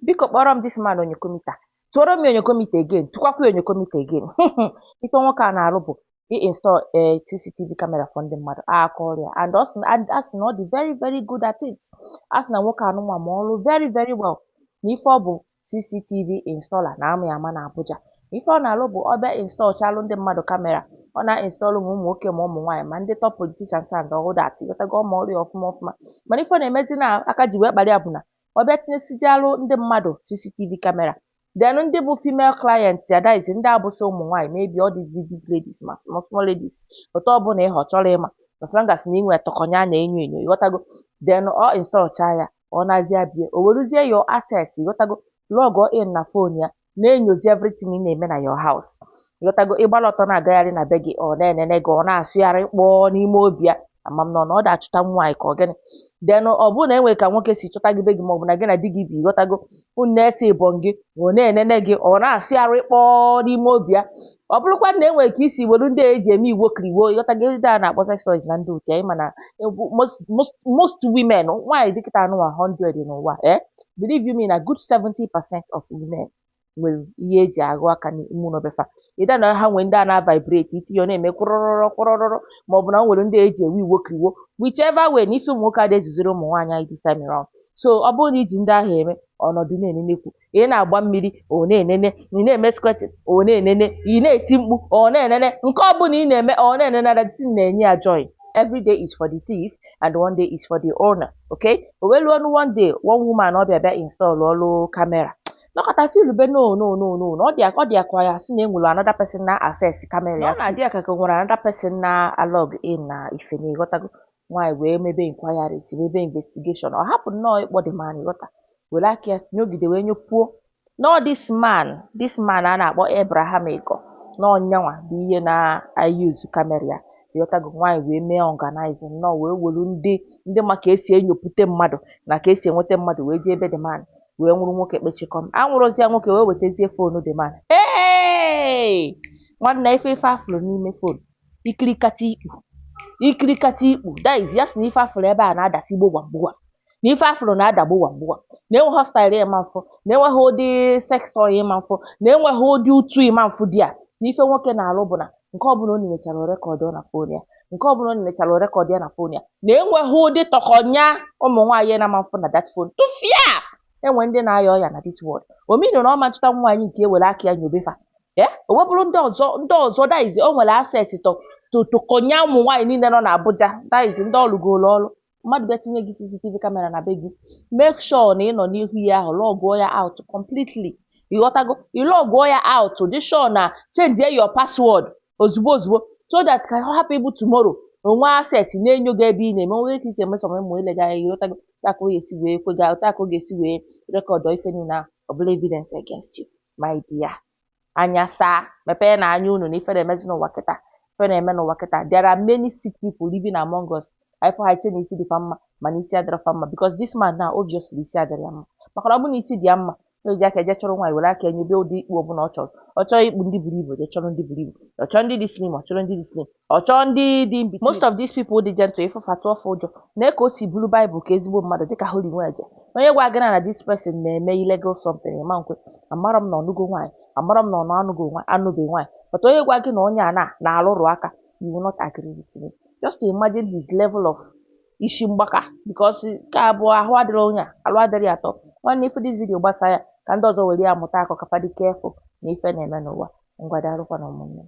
biko kpọrọ m this man onyokomita tụọrọ m ya onyokomita again tụkwakwa ya onyokomita again ife nwoke a na-arụ bụ i install a CCTV camera for ndị mmadụ aka ọrụ ya and ọ sị na- and a sị na ọ dị very very good at it a sị na nwoke anụnwa ma ọrụ very very well na ife ọ bụ CCTV installer na a ma ya ama na Abuja na ife ọ na-arụ bụ ọ bịa install chalụ ndị mmadụ kamera ọ na-install ma ụmụ nwoke ma ụmụ nwaanyị ma ndị top politicians and all that ịghọtago ọ ma ọrụ ya ọfụma ọfụma mana ife ọ na-emezi na aka ji wee kpara ya bụ na ọ bịa tinyesijalụ ndị mmadụ CCTV camera then ndị bụ female client ya that is ndị abụsị ụmụ nwaanyị maybe all these big big ladies ma small small ladies otu ọ bụla ihe ọ chọrọ ịma as long as na i nwe tọkọnya a na-enyo enyo ịghọtago then ọ install cha ya ọ nazie bie o weruzie your access ịghọtago log in na phone ya na-enyozi everything ị na-eme na your house ịghọtago ị gbara ọtọ na-agagharị na be gị ọ na-enene gị ọ na-asụgharị kpọọ n'ime obi ya ama m na ọ na ọ da-achụta nwaanyị ka ọ gịnị then ọ bụrụ na e nwere ka nwoke si chọta gị be gị maọbụ na gị na di gị bi ịghọtago unu na-ese ịbọn gị ọ na-enene gị ọ na-asụgharị kpọọ n'ime obi ya ọ bụrụkwa na e nwere ka i si were ndị a eji eme iwo kiriwo ịghọtago ndị a na-akpọ sex toys na ndị otu anyị ma na most, most, most women nwaanyị dị kịta anụwa 100 n'ụwa ee believe you me na good 70 percent of women nwere ihe eji aghụ aka n'ime ụlọ befa either na ha nwee ndị a na-vibrate i tinye ọ na-eme kwụrụrụrụ kwụrụrụrụ ma ọ bụ na o nwere ndị eji ewe iwo kiriwo whichever way na ife ụmụ nwoke adịghị ezuziri ụmụ nwaanyị anyị this time around so ọ bụrụ na i ji ndị ahụ eme ọ nọdụ na-enenekwu ị na-agba mmiri ọ na-enene ị na-eme squirting ọ na-enene ị na-eti mkpu ọ na-enene nke ọ bụla ị na-eme ọ na-enene na thing na-enye ya joy every day is for the thief and one day is for the owner okay o wee luonụ one day one woman ọ bịa bịa installụrụ kamera nọkọta feelube no no no no na ọ dị ọ dịakwa ya sị na enwere another person na-access kamera ya na-adị ya ka ka e nwere another person na-alog in na ife na ịghọtago nwaanyị wee mebe inquiries mebe investigation ọ hapụ nnọọ ịkpọ the man ịghọta were aka ya nyogide wee nyopuo na ọ this man this man a na-akpọ Abraham Ego na ọ nyanwa bụ ihe na-use kamera ya ịghọtago nwaanyị wee mee organizing nnọọ wee welu ndị ndị ma ka esi enyopụta mmadụ na ka esi enweta mmadụ wee jee ebe the man wee nwụrụ nwoke kpechikọm anwụrụzia nwoke wee wetazie fonu the man ee nwanne ife ife afụrụ n'ime fonu ikirikata ikpu ikirikata ikpu that is ya si na ife afụrụ ebe a na-adasi gbogwam gbogwam na ife afụrụ na-ada gbuwam gbuwa na enweghị style ị ma mfụ na enweghị ụdị sex toy ị ma mfụ na enweghị ụdị utu ị ma mfụ there na ife nwoke na-alụ bụ na nke ọbụla o nenechara record na phone ya nke ọbụla o nenechara record ya na phone ya na enweghị ụdị tọkọnya ụmụ nwaanyị na a ma mfụ na that phone tụfịa e nwe ndị na-aya ọya na this world ọ mean na ọ ma nchụta nwaanyị nke e were aka ya nyobe fa e o wee bụrụ ndị ọzọ ndị ọzọ that is o nwere access to to tọkọnya ụmụ nwaanyị niile nọ n'Abuja that is ndị ọ lụgoro ọlụ mmadụ bịa tinye gị CCTV camera na be gị make sure na ị nọ n'ihu ya ahụ lọgụọ ya out completely ị ghọtago ị lọgụọ ya out dị sure na change your password ozugbo ozugbo so that ka ọ hapụ ịbụ tomorrow o nwee access na-enyo gị ebe ị na-eme o nwe ka i si emesọ ụmụ ilega ya ị ghọtago ka ọ ga-esi wee kwe gị ka ọ ga-esi wee rekọdụọ ife niile ahụ ọ bụrụ evidence against you my dear anya saa mepeenụ anya unu na ife na-emezi n'ụwa kịta ife na-eme n'ụwa kịta there are many sick people living among us ị fụ ha i chee na isi dị fa mma mana isi adịrọ fa mma because this man now obviously isi adịrọ ya mma maka na ọ bụ na isi dị ya mma o ji aka eje chọrọ nwaanyị were aka enyobe ụdị ikpu ọbụla ọ chọrọ ọ chọọ ikpu ndị buru ibu je chọrọ ndị buru ibu ọ chọọ ndị dị slim ọ chọrọ ndị dị slim Ọ chọọ ndị dị in between. Most of these people dị gentle ị fụ fa tụọ fa ụjọ. Lee ka o si buru Bible ka ezigbo mmadụ dịka Holy Nweje. Onye gwa gị na na this person na-eme illegal something ị ma nkwe. Amarọ m na ọ nụgo nwaanyị. Amarọ m na ọ nọ anụgo nwa anụbeghị nwaanyị. But onye gwa gị na onye a na na-arụrụ aka you will not agree with me. Just imagine his level of isi mgbaka because nke a bụ ahụ adịrọ onye a arụ adịrọ ya at all. Nwanne ị fụ this video gbasa ya ka ndị ọzọ were ya mụta akọ ka fa dị careful na ife na-eme n'ụwa. Ngwa daalụkwanụ ụmụnne m.